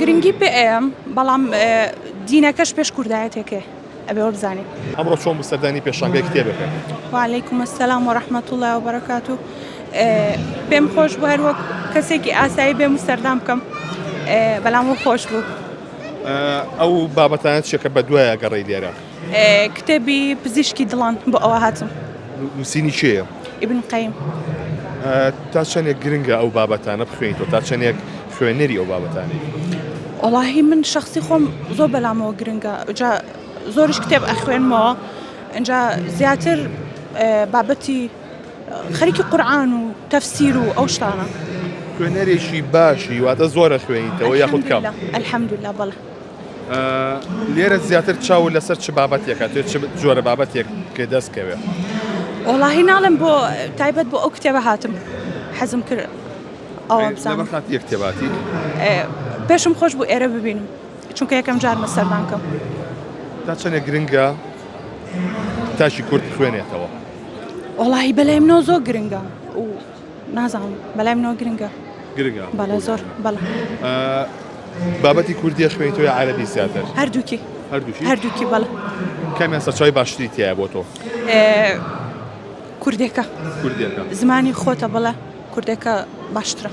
گرنگی پئ ئەیەم بەڵام دینەکەش پێش کوردایەتێکێ ئەبێ وەبزانین. ئەمڕۆ چۆن بوو سەردانی پێشانگای کتێبەکە؟ وعلیکم السلام ورحمة اللە وبرکاتو پێم خۆش بوو هەر وەک کەسێکی ئاسایی بێم و سەردان بکەم بەلام وە خۆش بوو. ئەو بابەتانە چیە کە بەدوایە گەڕێی لێرە؟ کتێبی پزیشکی دڵان بۆ ئەوە هاتم. نووسینی کێیە؟ ئیبن قەیم. تا چەندێک گرنگە ئەو بابەتانە بخوێنیتەوە تا چەندێک خوێنەری ئەو بابەتانی وڵاهی من شخصی خۆم زۆر بەلامەوە گرنگە جا زۆرش کتێب ئەخوێنمەوە ئەجا زیاتر بابەتی خەریکی قورآن و تەفسیر و ئەو شتانە خوێنەرێکی باشی واتە زۆرە خوێنیتەوە یاخود کەم الحمدلله الحمدلله بەڵێ لێرە زیاتر چاو لەسەر چ بابەتێکە توێت چ جۆرە بابەتێک پێ دەست کەوێت وڵاهی ناڵم بۆ تایبەت بۆ ئەو کتێبە هاتم حەزم کرد ئەوە بزانم خات یەک کتێباتی پێشم خۆش بوو ئێرە ببینم چونکە یەکەم جارمە سەردان کەم تا چەنێ گرنگە تاشی کورد خوێنێتەوە وڵی بەلای منەوە زۆر گرنگە و نازانم بەلای منەوە گرنگە گرنگە بەڵێ زۆر بەڵێ بابەتی کوردی خوێنی تۆ عربی زیاتر هەردووکی هەردووکی هەردووکی بەڵ کامیان سەرچوی باشتری تایە بۆ تۆ کوردێکە کوردێکە زمانی خۆتە بڵە کوردێکە باشترە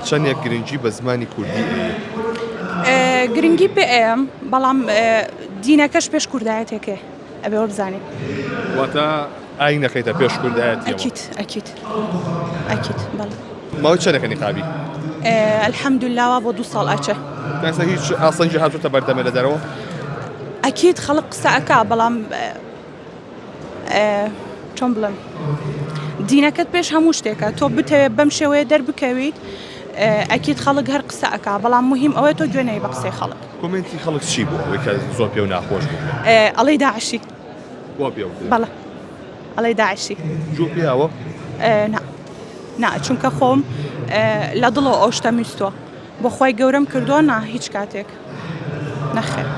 چەندێک گرنگی بە زمانی کوردی گرنگی پێ ئەم بەڵام دینەکەش پێش کوردایەتێکێ ئەبێ وەبزانین واتە ئاین نەکەیتە پێش کوردایەتی ئەکیت ئەکیت ئەکیت بەڵێ ماوەی چەندەکە نیقابی ئەلحەمدولاوا بۆ دو ساڵ ئاچە کەسە هیچ ئاسەنجی هاتوتە بەردەمە لە دەرەوە ئەکیت خەڵق قسەکە بەڵام چۆن بڵم دینەکەت پێش هەموو شتێکە تۆ بتەوێت بەم شێوەیە دەربکەویت ئەکیت خەڵک هەر قسە ئەک بەڵام مهم ئەوەی تۆ گوێنەی بە قسەی خەڵک کۆمێنتی خەڵک چی بوو ئەوەی کە زۆر پێو ناخۆش بوو؟ ئەڵێی داعشی وا پێ وترێ بەڵێ ئەڵێی داعشی جوو پیاوە؟ ئێ، نا نا چونکە خۆم ئێ، لە دڵەوە ئەو شتە میستوە بۆ خۆی گەورەم کردووە نا هیچ کاتێک نەخێر